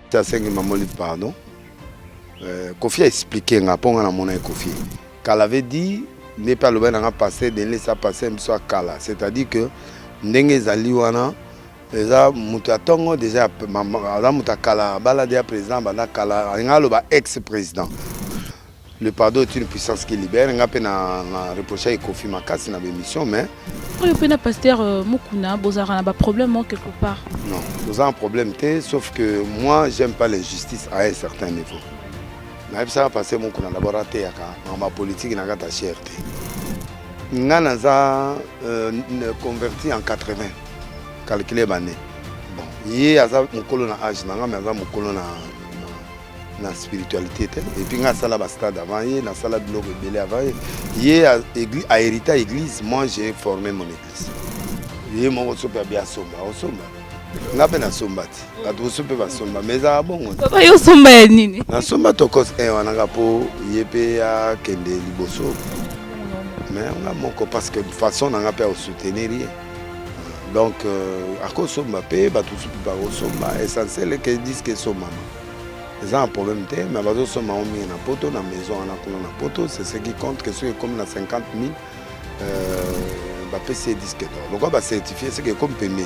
ta sengi mamoli pardon euh, kofi expliquer nga mpo nga namona ye kofi kala avait dit nde mpe alobaki nanga pasteur denlesa pasteur biso ya kala c'est à dire que ndenge ezali wana eza moto ya ntongo deja aza moto ya kala abala deja président abanda kala alinga aloba ex président Le pardon est une puissance qui libère. Nga pe na, na reprocha et Kofi Makasi na l'émission, mais. Oyo pe na pasteur euh, Mukuna, bozara na ba problème hein, quelque part. Non, vous avez un problème te, sauf que moi j'aime pas l'injustice à un certain niveau. Na yebisa ka pasteur Mukuna d'abord até yaka dans ma politique na kata cherté. Nga na za euh, converti en 80. Calculer bané. Bon, yé aza mukolo na âge na nga mais aza mukolo na na spiritualité te epuis ngai asala bastade avant ye nasala biloko ebele avant ye ye ahérita église moi j'ai formé mon église ye moko soki abi asomba osomba nga mpe nasomba te bato mosusu mpe basomba ma ezala bongo yo osomba ya nini nasomba tokos e wana nga mpo ye mpe akende liboso me nga moko parce que façon na nga mpe akosoutenir ye donc euh, akosomba mpe bato mosusu mpe bakosomba essentiel eke diske esombama eza na problème te mais bazosomba yango mingi na poto na maison wana kuna na poto c'est ce qui compte que soki ekomi na 50 000 euh, bapesi ye disque d'or lokola bacertifie seke ekomi mpe 1000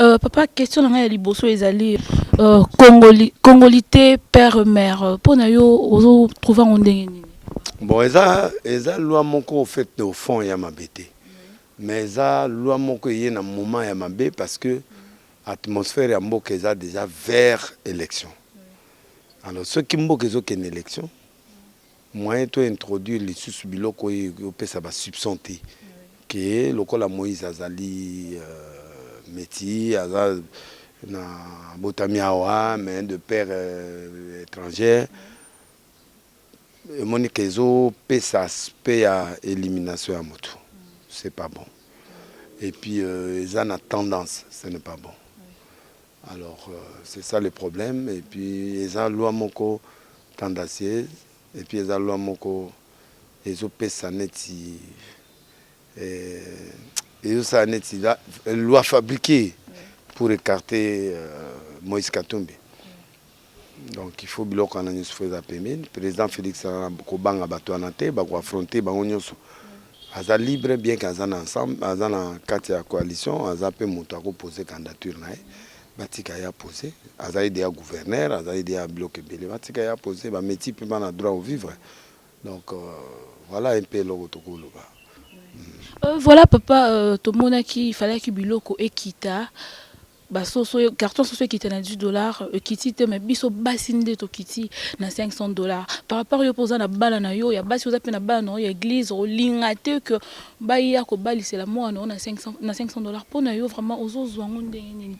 Euh, papa question na ngai ya liboso ezali euh, congoli, congolité père mère mpo na yo ozotrouve yango ndenge nini bon eza eza loi moko fait de fond ya mabe te mais eza loi moko eye na moment ya mabe parce que atmosphère ya mboka eza déjà vers élection alors soki mboka ezokende élection Moyen to introduire lisusu biloko oyo eko pesa ba soupçon te que lokola Moïse azali metsis, aza na botami awa mais de père etranger, emoni que ezo pesa aspect ya elimination ya mutu, c'est pas bon et puis eza na tendance, ce n'est pas bon. Alors c'est ça le problème et puis eza loi moko tendacieuse et puis eza loi moko ezo pesa neti eh, ezo sala neti la, loi fabriquée pour écarter euh, Moïse Katumbi Donc il faut biloko wana nyonso faut eza pembeni. President Felix aza na kobanga bato wana te, bako affronter bango nyonso. Aza libre bien que aza na ensemble, aza na kati ya coalition, aza mpe moto ako poser candidature na ye. Batika ye a poser. Azali deja gouverneur, azali deja biloko ebele. Batika ye a poser, ba meti mpe bana droit au vivre. Donc euh, voilà un peu eloko tokoloba. Euh, voilà papa, euh, tomonaki falaki biloko ekita ba soso carton soso ekita na 10 dollars ekiti te mais biso basi nde tokiti na 500 dollars par rapport yo poza na bana na yo ya basi oza pe na bana na ya église olinga te que baya kobalisela mwana na 500 na 500 dollars pona yo vraiment ozozwa yango ndenge nini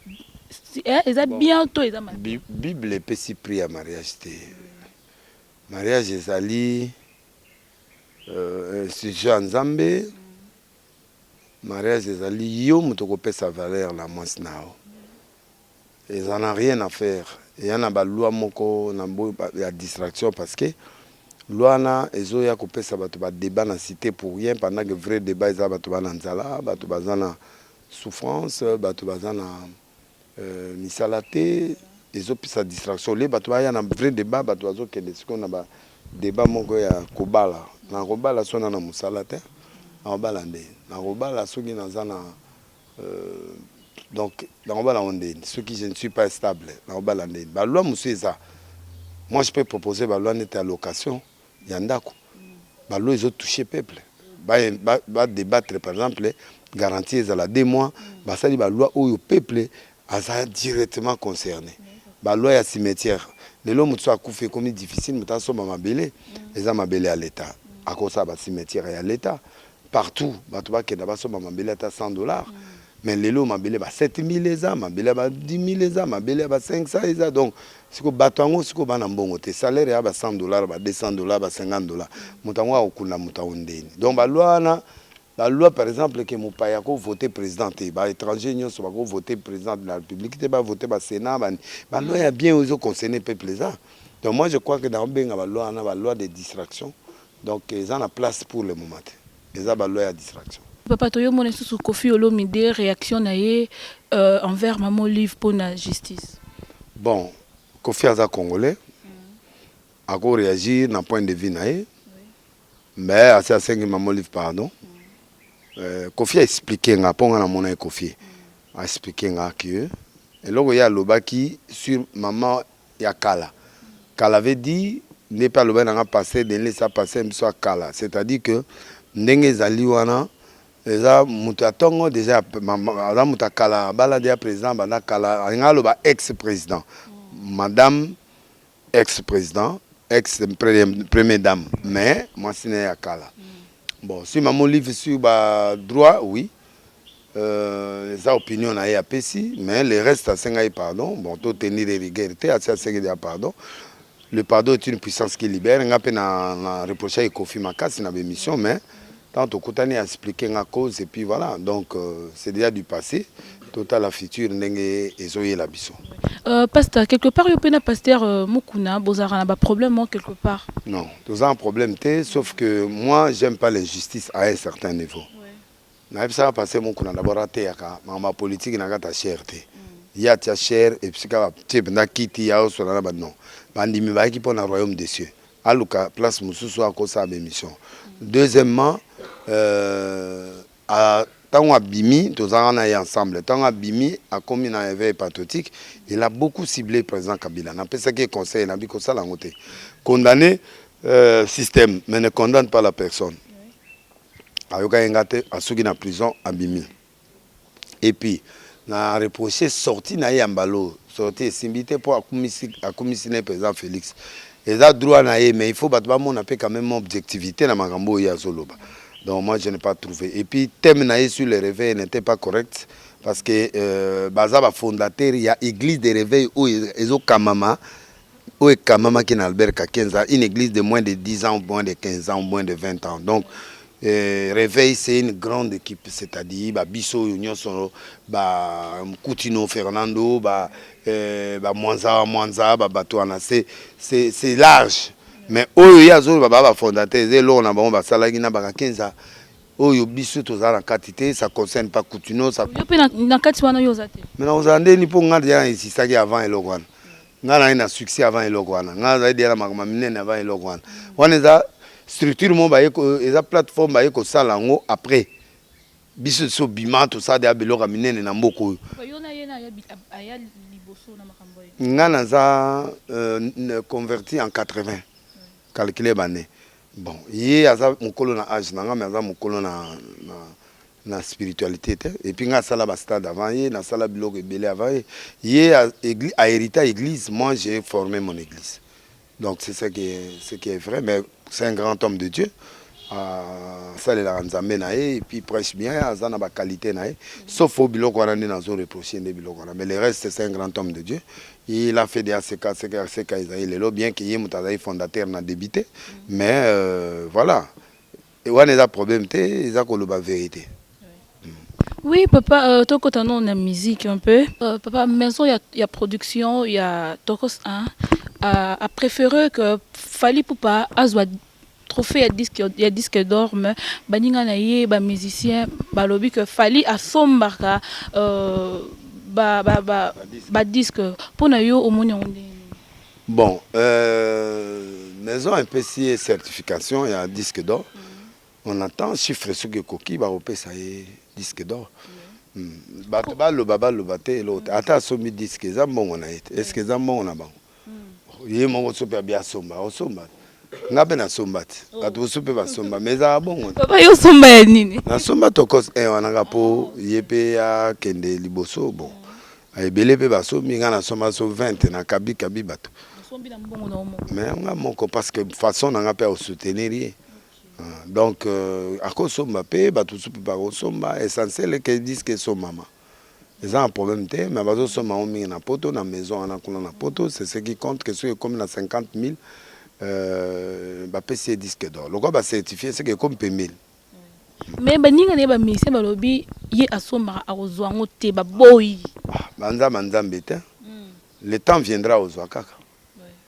eh, eza bon, bien to eza mabe bible epesi prix ya mariage te mariage ezali euh, institution ya nzambe Mariage ezali yo moto okopesa valeur na mwasi na yo eza na rien à faire eya na ba loi moko na bo ya distraction parce que loi na ezoya kopesa bato ba debat na cite pour rien pendant que vrai debat eza bato ba na nzala bato baza na souffrance bato baza na misala te ezo pesa distraction olie bato baya na vrai debat bato bazo kende sikoyo na ba debat moko ya kobala nakobala soki naza na mosala te nakobala nde nakobala soki naza na euh, donc nakobala ngo nde soki je ne suis pas stable nakobala nde ba loi mosusu eza moi je peux proposer ba loi neti ya location ya ndaku ba lois ezo touche peuple ba debattre par exemple garantie ezala deux mois basali ba lois oyo peuple aza directement concerne ba lois ya cimetière lelo moto so akufi ekomi difficile moto asomba mabele eza mabele ya l'etat akosala ba cimetière ya l'etat partout batu bakenda basomba mabele ata 100 dollars mais lelo oyo mabele ya ba 7000 eza mabele ya ba 10000 eza mabele ya ba 500 eza donc siko bato yango siko bana mbongo te salaire ya ba 100 dollars ba 200 dollars ba 50 dollars moto yango akokunda moto yango ndeni donc balwa wana balwa par exemple ke mopaya akovote président te ba étranger nyonso bakovote président de la république te bavote ba sénat bani balwa ya bien oyo ezoconcerne peuple eza donc moi je crois ke nakobenga balwa wana balwa de distraction Donc eza na place pour le moment te. Eza ba loi ya distraction. Papa toyo mona lisusu Koffi Olomide reaction na ye euh, envers maman Olive pona justice. Bon, Koffi aza congolais. Mm. Ako reagir na point de vue na ye. Oui. Mais asi asengi maman Olive pardon. Mm. Euh, Koffi a expliqué nga po nga na mona ye Koffi. Mm. A expliqué nga que eloko ye alobaki sur maman ya kala kala veut dire nde pe alobaki na nga pasteur Denle eza pasteur na biso ya kala c'est à dire que ndenge ezali wana eza mutu ya tongo dejà aza mutu ya kala abala dejà president banda kala alingaki aloba ex president madame ex president ex première dame mais mwasi na ye ya kala Bon, si maman Olive sur ba droit, oui. Euh, eza opinion na ye apesi, mais le reste asenga ye pardon. Bon, to tenir rigueur te, asi asengi ya pardon. Le pardon est une puissance qui libère. Nga pe na, na reprocha ye Kofi makasi na b'emission, mais tant tokutani expliquer nga cause et puis voilà. Donc euh, c'est déjà du passé. Totala futur ndenge ezoyela biso. Euh, pasteur, quelque part, yo pena pasteur euh, Mukuna, bozara na ba problème hein, quelque part. Non, toza un problème te, sauf que moi j'aime pas l'injustice à un certain niveau. nayebisaka pasteur Mukuna d'abord ateyaka makambo ya politiki na kata cher te mm. ye atia cher episika batie mpenza kiti ya osola na banon bandimi bayaki mpo na royaume des cieux aluka place mosusu akosala baémission mm. deuxièmement euh, Ah tango abimi toza nga naye ensemble tango abimi akomi na eveil patriotique il a beaucoup cible president kabila na pesaki ye conseil na bi kosala yango te condamne euh, système mais ne condamne pas la personne ayokaki nga te asuki na prison abimi et puis Na reproche sortie naye ya mbala oyo sortie esimbi te po akumisi akumisi naye president Felix eza droit naye mais il faut batu bamona pe quand meme objectivite na makambo oyo ye azoloba donc moi je n'ai pas trouve et puis thème naye sur le reveil n'etait pas correct parce que euh, baza ba fondateur ya eglise de reveil oyo ezokamama oyo ekambamaki na Albert Kakenza, une église de moins de 10 ans, moins de 15 ans, moins de 20 ans. Donc, euh, Réveil, c'est une grande équipe, c'est-à-dire ba biso oyo nyonso ba Mkutino Fernando, ba euh, ba Mwanza Mwanza, ba bato wana c'est c'est c'est large. Mais oyo ye azoloba ba ba fondateurs eza eloko na bango basalaki na bakakenza oyo biso toza na kati te, ça concerne pas Kutino, ça Yo pe na, na kati wana yo oza te. mais nakozala nde nini mpo ngai deja na insistaki avant eloko wana nga naye na succès avant eloko wana nga nazali deya na makambo ya minene avant eloko wana wana eza structure moko baye eza plateforme baye kosala yango après biso so bima tosala deya biloko ya minene na mboka oyo nga naza euh, converti en 80 calcule bane bon ye aza mokolo na age na nga me aza mokolo na, na na spiritualite te et puis nga asala ba stade avant ye na sala biloko ebele avant ye ye a, église, a hérita église moi j'ai formé mon église donc c'est ça qui est, ce qui est vrai mais c'est un grand homme de Dieu asalelaka nzambe na ye epuis prêche bien aza na baqualité na ye sauf o biloko wana nde nazo reproche nde biloko wana mais le reste c'est un grand homme de dieu il a fait de aseka aseka aseka ezali lelo bien ke ye moto azali fondateur na débité mais euh, voilà Et wana eza problème te, eza koloba verite. Oui papa, euh, tokota non na musique un peu. Euh, papa, maison ya, ya production ya Tokos 1 a, a préféré que Fally Poupa azwa trophée ya disque ya disque d'or mais baninga na ye ba musiciens balobi que Fally asombaka euh, ba ba ba, ba disque mpo na yo omoni yango ndenge Bon euh, maison epesi ye certification ya disque d'or mm. on attend chiffre soki ekoki bakopesa ye disque d'or mm. mm. bato baloba baloba te eloko te mm. ata asombi disque eza mbongo na ye te mm. eske eza mbongo na bango mm. ye moko soki abi asomba osomba nga mpe nasomba te oh. bato mosusu mpe basomba ma ezalaka bongo yo osomba ya nini nasomba tokos e eh, wanaka mpo ye mpe akende liboso bon Ah, ebele mpe basombi ngai nasomba so 20 na kabi kabi bato me nga moko parce que façon na nga mpe akosoutenir ye ah, donc euh, akosomba mpe bato mosusu mpe bakosomba essentiel ke diske esombama eza na problème te mais bazosomba yango mingi na poto na maison wana kuna na poto c'est ce qui compte ke soki ekomi na 50 000 euh, bapesi ye disque d'or lokola bacertifie seke ekomi mpe 1000 Mais baninga na ye bamusicien balobi ye asombaka akozwa yango te baboyi ah, banzamba nzambe te hmm. le temps viendra ozwa kaka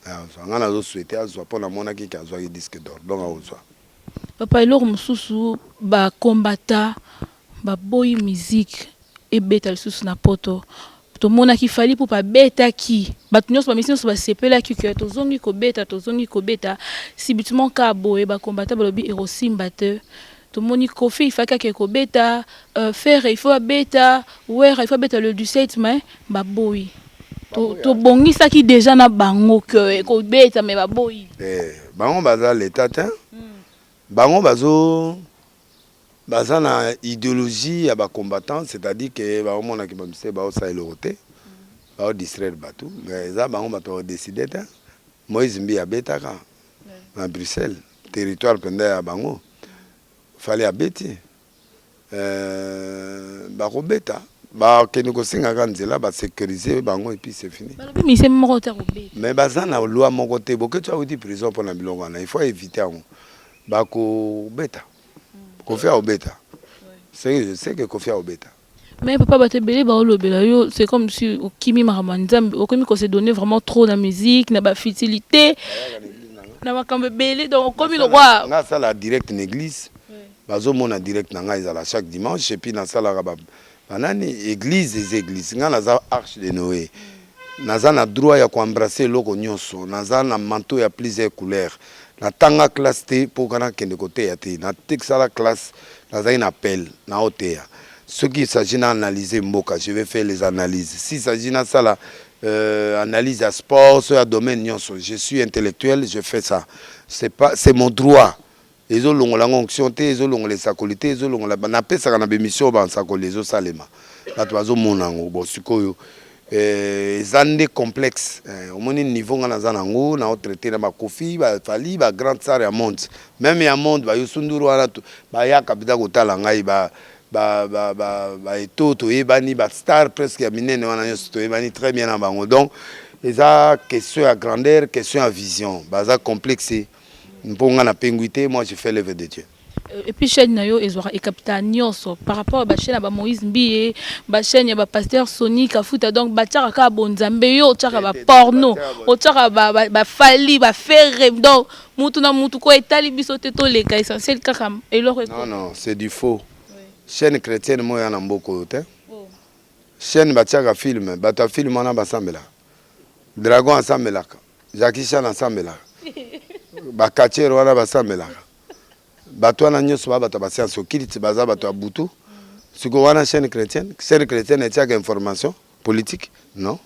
ah, ozwa ngai nazoswete azwa mpo namonaki ke azwaki disque d'or donc akozwa papa eloko mosusu bakombata baboyi musique ebeta lisusu na poto tomonaki fali ipupa abetaki bato nyonso bamisi nyonso basepelaki ke tozongi kobeta tozongi kobeta sibitement ka boye bakombata balobi ekosimba te tomoni kofi ifaki ake kobeta uh, fere ifo abeta wera ifo abeta le 17 mai baboyi tobongisaki to deja na bango ke ekobeta mai baboyi eh, bango baza leta te hmm. bango bazo Baza na ideologie ya ba combattants c'est à dire que ba omona ki bamuse ba osala eloko te ba o distraire batu mais eza bango batu ba decider te Moïse mbiye abetaka na Bruxelles territoire penza ya bango fally abeti euh, bakobeta bakende kosenga ka nzela ba sécuriser bango epuis c'est fini mais baza na loi moko te boketsho awuti prison mpona biloko wana il faut éviter yango bakobeta kofi akobeta seke kofi akobeta mais papa bato ebele baolobela yo c'est comme si okimi makambo ya nzambe okomi ko se donner vraiment trop na musique na bafutilité na makambo ebele donc okomi lokwa nga asala direct na église bazomona direct na ngai ezala chaque dimanche epuis nasalaka Banani eglise eza eglise nga naza arche de Noe naza na droit ya ko embrasser eloko nyonso naza na manteau ya plusieurs couleurs natanga classe te mpo kana kende koteya te natekisala classe nazali na appel na oteya soki il s'agit na analyser mboka je vais faire les analyses si s'agit nasala euh, analyse ya sport so ya domaine nyonso je suis intellectuel je fais ça c'est pas c'est mon droit Ezo longola nga onction te, ezo longola esakoli te, ezo longola na pesaka na b'emission ba nsakoli ezo salema batu bazo mona yango bon sikoyo eh, eza nde complexe eh, omoni niveau nga naza na yango na traite na ba Kofi ba Fally ba grand star ya monde meme ya monde ba Youssou N'Dour wana tu- bayaka bida kotala ngai ba ba ba ba, ba eto toyebani ba star presque ya minene wana nyonso toyebani très bien na bango donc eza question ya grandeur question ya vision baza complexe mpo nga na pengui te moi je fais l'œuvre de Dieu euh, et puis chaîne na yo ezwaka ekapita nyonso par rapport ba chaîne ya ba Moïse Mbiye ba chaîne ya ba pasteur Sony Kafuta donc batiaka kaka bonzambe yo otiaka ba porno otiaka ba, ba, ba fali ba ferre donc mutu na mutu ko etali biso te toleka essentiel kaka eloko non non c'est du faux oui. chaîne chrétienne moi ya na mboko oyo te oh. chaîne batiaka film bato ya film wana basambelaka dragon asambelaka Jackie Chan asambelaka ba catcheur wana basambelaka bato wana nyonso ba bato ya basianse okilte baza bato ya butu siko wana chaîne chrétienne chaîne chrétienne etiaka information politique non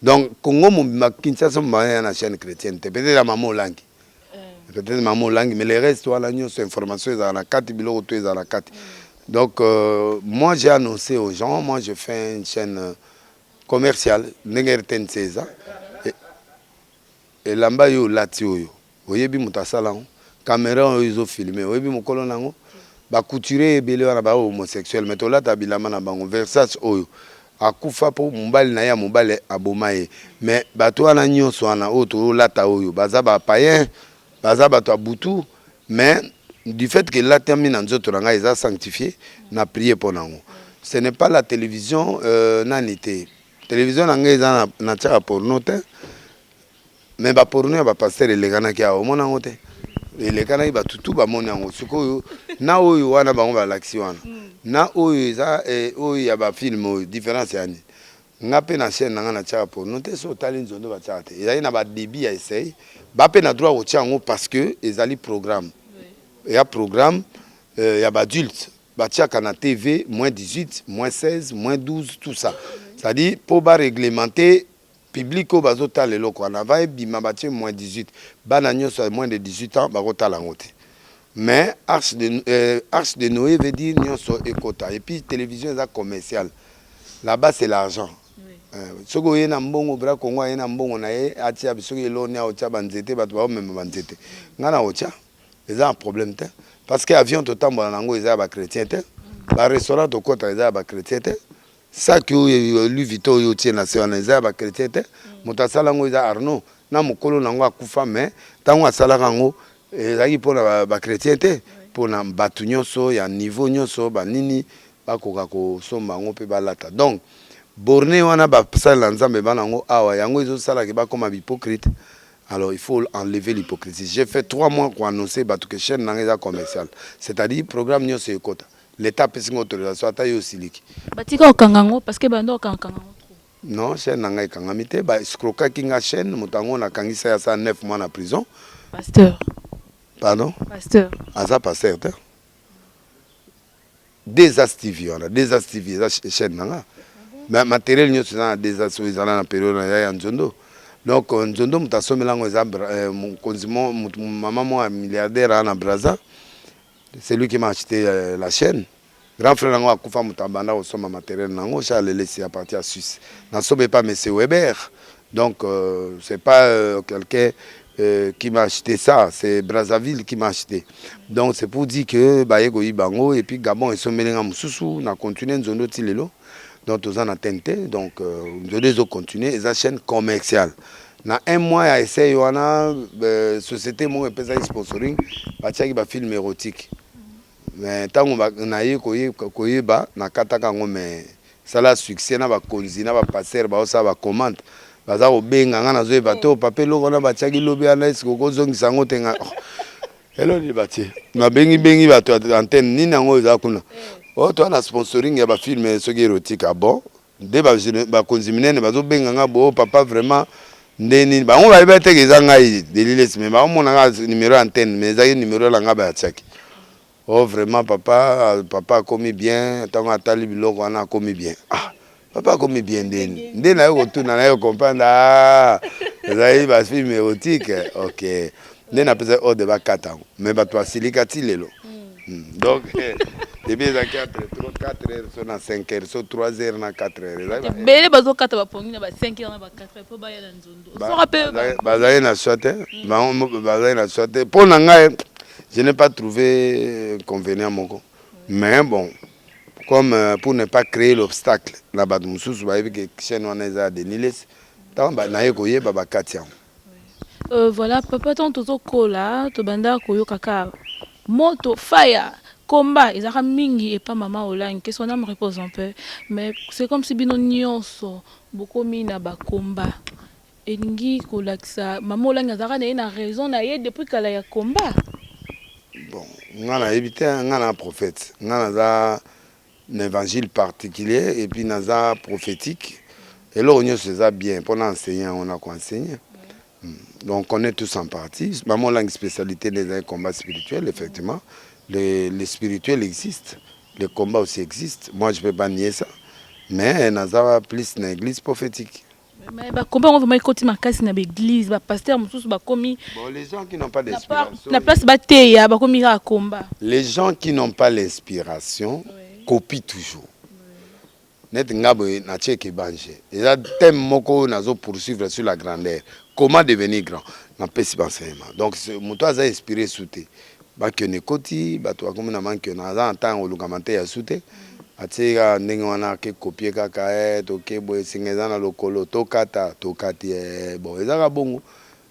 donc congo mobimba kinshasa mobimba ya na chaîne chrétienne te peut-être ya mama olangi euh. peut-être mama olangi mais le reste wana nyonso information ezala na kati biloko to ezala na kati donc euh, moi j'ai annoncé aux gens moi je fais une chaîne euh, Commercial ndenge rtnc eza e, elamba yo olati oyo oyebi moto asala yango camera oyo ezo filme oyebi mokolo na yango ba couturier ebele wana ba homosexuel mais tolata bilamba na bango versage oyo akufa mpo mobali na ye ya mobali aboma ye mais bato wana nyonso wana oyo tolata oyo baza bapayen Baza bato ya butu mais du fait que elatami na nzoto na ngai eza sanctifie na prier mpo nango ce n'est pas la télévision euh, nani te télévision na ngai eza na tiaka porno te mais baporno ya bapasteur elekanaki awa omona yango te elekanaki bato tu bamoni yango sikoyo na oyo wana bango balakisi wana na oyo eza eh, oyo ya bafilme oyo différence yani Nga pe na chaine na nga na tiaka porno te soki otali nzondo ba tiaka te ezali na ba debut ya essai ba pe na droit ya kotia yango parce que ezali programme eya programme euh, ya ba adulte ba tiaka na TV moins 18 moins 16 moins 12 tout ça c'est à dire po ba reglementer public oyo bazo tala eloko wana va ebima ba tie moins 18 bana nyonso ya moins de 18 ans bako tala yango te mais arche de, euh, arche de Noé veut dire nyonso ekota et puis télévision eza commerciale La base c'est l'argent. Euh, soki oye na mbongo bra congo aye na mbongo na ye atia soki eloni aotya banzete bato baomema banzete ngai na otya eza na problème te parce que avion totambola na yango eza ya bachrétien te barestaurant tokota eza ya bachrétien te saki oyo lui vito oyo otie na se wana eza ya bachrétien te moto asala yango eza arnaud na mokolo na yango akufa mais ntango asalaka yango Ezalaki mpo na ba chretiens te, mpo na batu nionso ya niveau nionso ba nini bakoka kosomba yango mpe balata donc borne wana ba salela nzambe ba nango awa yango ezo sala ke bakoma b'hypocrite alors il faut enlever l'hypocrisie j'ai fait trois mois ko annoncer batu ke chaine nanga eza commercial c'est à dire programme nionso ekota l'etat apesi nga autorisation ata yo osiliki Batika kokanga yango parce que banda kokanga kanga yango trop. Non chaine na nga ekangami te ba escrokaki nga chaine moto yango na kangisa ya sa 9 mois na prison. Pasteur. Pardon? Pasteur. Aza pasteur te. Deux as TV wana deux as TV eza chaine na nga. Mais matériel nyonso eza na deux as oyo ezala na période na ya nzondo. Donc euh, nzondo moto asomela yango eza euh, mokonzi mama moko ya milliardaire ana Brazza. C'est lui qui m'a acheté euh, la chaîne. Grand frère na ngo akufa moto abanda kosomba materiel na yango chez Alelesi à partir ya Suisse na sobe epa monsieur Weber donc euh, c'est pas euh, quelqu'un euh, qui m'a acheté ça c'est Brazzaville qui m'a acheté donc c'est pour dire que baye koyiba yango et puis Gabon esombeli nga mosusu na continuer nzondo ti lelo donc toza na tente te donc euh, nzodo ezo continue eza chaîne commerciale na un mois ya essai wana euh, société moko epesaki sponsoring batiaki bafilme érotique Mais tango naye koyeba nakataka yango mais sala succès na ba konzi na ba pasteur ba osala ba commente baza kobenga nga nazo yeba to papa eloko wana batiaki lobi wana eske okozongisa yango te nga oh, elo nini batie nabengi bengi bato ya antenne nini yango eza kuna o oh, toa na sponsoring ya bafilme soki erotika bon Nde ba konzi minene bazo benga nga bo papa vraiment nde nini bango ba yeba teke eza ngai deliles mais ba mona nga numero ya antenne mais ezaki numero na nga ba tiaki oh vraiment papa papa akomi bien tango atali biloko wana akomi bien ah papa akomi bien nde nde na yo kotuna na yo comprendre ah ezali ba film erotique ok nde na pesa ordre ba kata yango mais bato basilika ti lelo hmm, donc eh, ebi ezalaki entre 4 heures so na 5 heures so 3 heures na 4 heures ezalaki ba- ebele bazokata bapongi na ba 5 heures na ba 4 heures mpo baya na nzondo Ba- soka mpe bazali- bazali na soi te bango mo- bazali na soi te mpo na ngai je n'ai pas trouvé inconvénient moko mais bon comme euh, pour ne pas créer l'obstacle na bato mosusu bayebi ke chaîne wana eza ya deniles ntango ba- naye koyeba bakati yango Euh voilà papa tango tozo kola tobandaka koyoka ka moto fire combat ezalaka mingi epa mama olangi que son ame repose en paix mais c'est comme si bino nyonso bokomi na ba combat elingi kolakisa mama olangi azalaka na ye na raison na ye depuis kala ya combat bon nga nayebi te nga na prophète nga naza na evangile particulier et puis naza prophétique eloko nyonso eza bien mpo na enseigne yango na koenseigne hmm. donc connaît tous en partie mama olangi spécialité nde ezali combat spirituel effectivement le, le spirituel existe le combat aussi existe moi je peux pas nier ça mais naza plus na église prophétique Mais ba combat on vraiment ekoti makasi na l'église, ba pasteurs mususu ba komi Bon, les gens qui n'ont pas na pa- d'inspiration. na place ba teya ba komi kaka combat. Les gens qui n'ont pas l'inspiration copient toujours. Net nga boye na check ebanje. Eza thème moko oyo nazo poursuivre sur la grandeur. Comment devenir grand? Na pesi ba enseignement. Donc ce- moto aza inspiré sous te. Mankion ekoti bato bakomi na mankion aza na ntango koluka mante ya su te atie kaka ndenge wana ake kopie kaka eh, toke boye esenga eza na lokolo tokata tokati eh, bon eza kaka bongo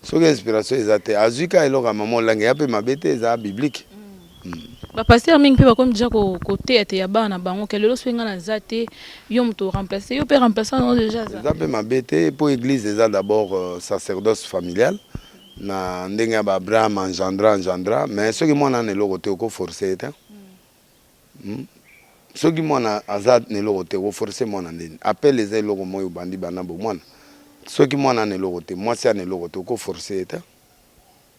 soki inspiration eza te azwi kaka eloko ya mama olangi ya mpe mabe te eza biblique mm. mm. bapastere mingi mpe bakomi deja koteyateya bana na bango ke lelo soki ngai naza te yo moto oremplace yo mpe remplaçant yango deja eza mpe mabe te mpo église eza d'abord euh, sacerdoce familiale na ndenge ya ba Abraham engendra engendra mais soki mwana ana eloko te oko force ye te hmm? soki mwana aza na eloko te oko force mwana nini appel eza eloko moi obandi bana bo mwana soki mwana ana eloko te mwasi ana eloko te oko force ye te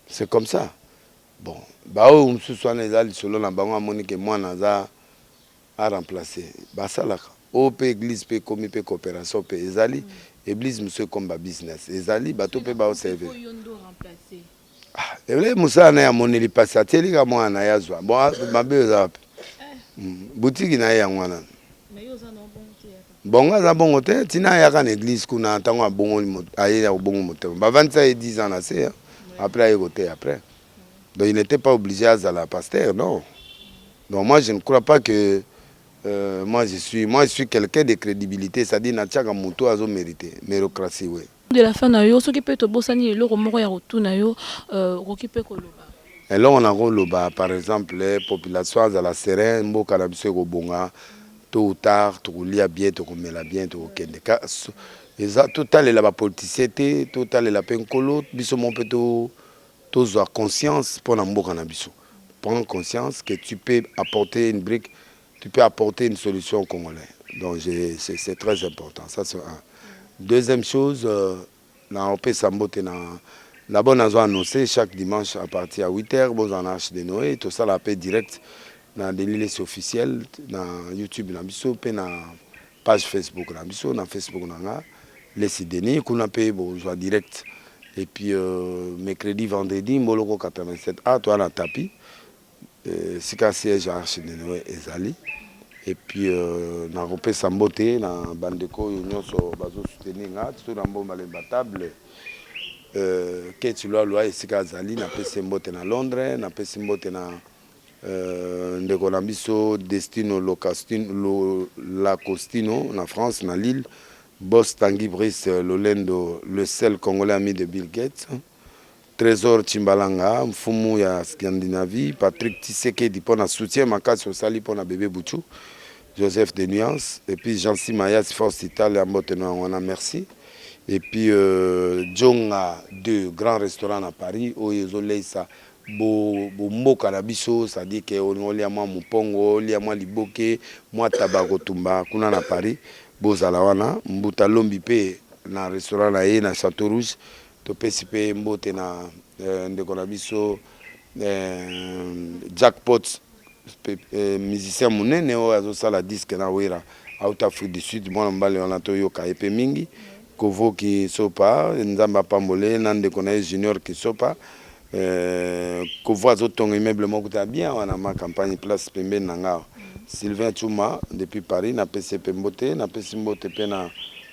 c'est comme ça bon baoyo mosusu wana eza lisolo na bango amoni ke mwana aza a remplace basalaka oyo pe eglise pe ekomi pe cooperation pe ezali eblise mosusu ekomi ba business ezali bato pe bao servir Eble mosala na ye amoneli pasi atieli ka mwana na ye azwa bon ah, mabe oza wapi hmm, butiki na ye yango wana bongo aza bongo te ntina ayaka na eglise kuna ntango abongoli aye ya kobongo motema bavandisa ye 10 ans na se apres aye koteya apres Donc il n'était pas obligé à Zala pasteur, non. Donc moi je ne crois pas que euh, moi je suis, moi je suis quelqu'un de crédibilité, c'est-à-dire Natchaka Moutou Azo mérité, mérocratie, oui. De la fin, yo, ce qui peut te bosser, ni l'eau, moro, ya retour, na yo, euh, qui peut koloba. Et là, on a koloba, par exemple, les populations à la sereine, mboka na biso ekobonga, tôt ou tard, tokolia bien, tokomela bien, tokokende. Eza, totalela ba politiciens te, totalela pe nkolo, biso mon pe to Tozua conscience pona mboka na biso. Prends conscience que tu peux apporter une brique, tu peux apporter une solution aux congolais. Donc je c'est très important ça c'est un. Deuxième chose na opesa mbote na D'abord nazo annoncer chaque dimanche à partir ya 8 heures bozala na Arche de Noe tosala pe direct na Denis Lessi officiel na YouTube na biso pe na Page Facebook na biso na Facebook na nga Lesi Denis kuna pe bozwa direct et puis euh, mercredi vendredi mboloko 87 a toya na tapi euh, sika siège ya archidenoe ezali et puis euh, nakopesa mbote na bandeko oyo nyonso bazosoutenir nga tiso na mbomba lemba table euh, keti lwalwa esika azali napesi mbote na londres napesi mbote na Euh, ndeko na biso Destino Locastino, Lacostino na France na Lille, Boss Tanguy Brice Lolendo, le seul congolais ami de Bill Gates. Trésor Chimbalanga, mfumu ya Scandinavie, Patrick Tshisekedi mpo na soutien makasi osali mpo na bebe Buchu, Joseph de Nuance, et puis Jean Simayas Force Italia mbote na yango wana merci. Et puis euh, Jonga 2 grand restaurant na Paris oyo ezoleisa Bo bomboka na biso c'est à dire que olia mwa mupongo olia mwa liboke mwa taba ya kotumba kuna na Paris bozala wana mbuta lombi pe na restaurant na ye na chateau rouge topesi pe mbote na ndeko na biso Jackpots. Eh, musicien munene oyo azosala disque na wera out afrique du sud mwana mobali wana toyoka ye mpe mingi kovo kisopa nzambe apambole ye na ndeko na ye junior kisopa eh, kovo azotonga immeuble moko ta bien wana ma campagne place pembeni na nga sylvain chuma depuis paris napesi ye mpe mbote napesi mbote mpe na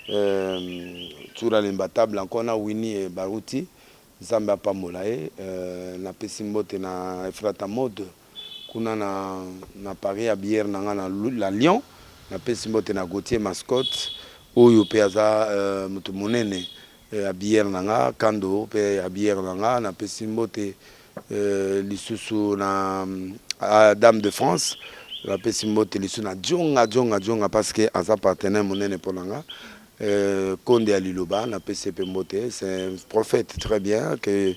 eh, tsura lemba table encore na wini baruti Nzambe apambola ye. Na pesi mbote na Efrata mode kuna na na paris ya biere na nga na la lion na pesi mbote na Gauthier mascot oyo pe aza euh, mutu munene euh, ya biere na nga kando pe ya biere na nga na pesi mbote euh, lisusu na euh, dame de France na pesi mbote lisusu na djonga djonga djonga parce que aza partenaire munene pona nga Euh, konde ya liloba na pese pe mbote c'est un prophète très bien que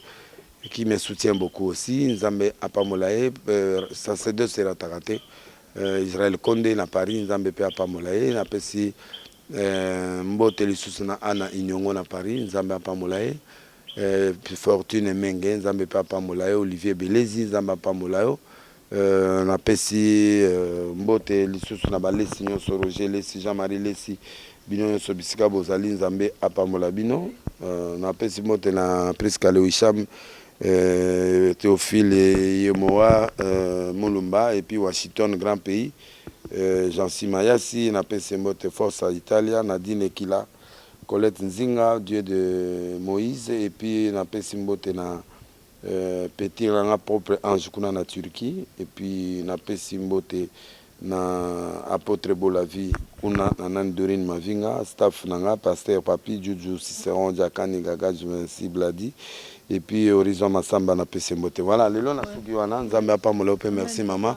qui me soutient beaucoup aussi nzambe apamola ye euh, sacerdoce erataka te euh, israel konde na paris nzambe pe apamola ye napesi euh, mbote lisusu na ana iniongo na paris nzambe apamola ye euh, fortune menge nzambe pe apamola ye olivier belezi nzambe apamola yo Euh, napesi euh, mbote lisusu na balesi nyonso roger lesi jean marie lesi bino nyonso bisika bozali nzambe apambola bino euh, napesi mbote na prisca lewisham euh, théophile yemoa euh, mulumba epuis washington grand pays euh, jansi mayasi napesi mbote force à italia nadine ekila colette nzinga dieu de moïse epuis napesi mbote na Euh petit na nga propre ange kuna na Turquie et puis na pesi mbote na apotre Bola vie kuna na nani Dorine Mavinga staff na nga pasteur Papi Juju Ciceron Jakani Gaga Juvency Bladi et puis Horizon Masamba na pesi mbote voilà lelo na suki wana Nzambe apambola yo pe merci maman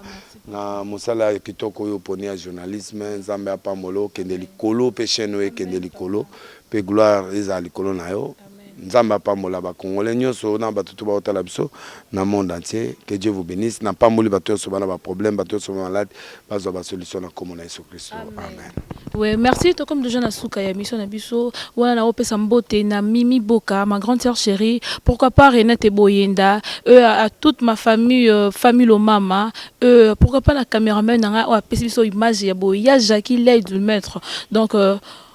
na mosala ya kitoko oyo poni ya journalisme Nzambe apambola yo kende likolo pe chaîne oyo ekende likolo pe gloire ezala likolo na yo Nzambe apambola ba congolais nionso na batu tout baotala biso na monde entier que Dieu vous benisse na pamboli batu yonso bana ba problème batu yonso ba malade bazwa ba solution na kombo na yesu christo amen. Ouais, merci. Toi, comme déjà na suka ya mission na biso, wana na opesa mbote na Mimi Boka, ma grande sœur chérie. Pourquoi pas Renate Boyenda, euh, à, à toute ma famille, euh, famille Lomama, euh, pourquoi pas la caméraman nanga, oh, apesi biso image ya boya Jackie Lay du maître. Donc euh,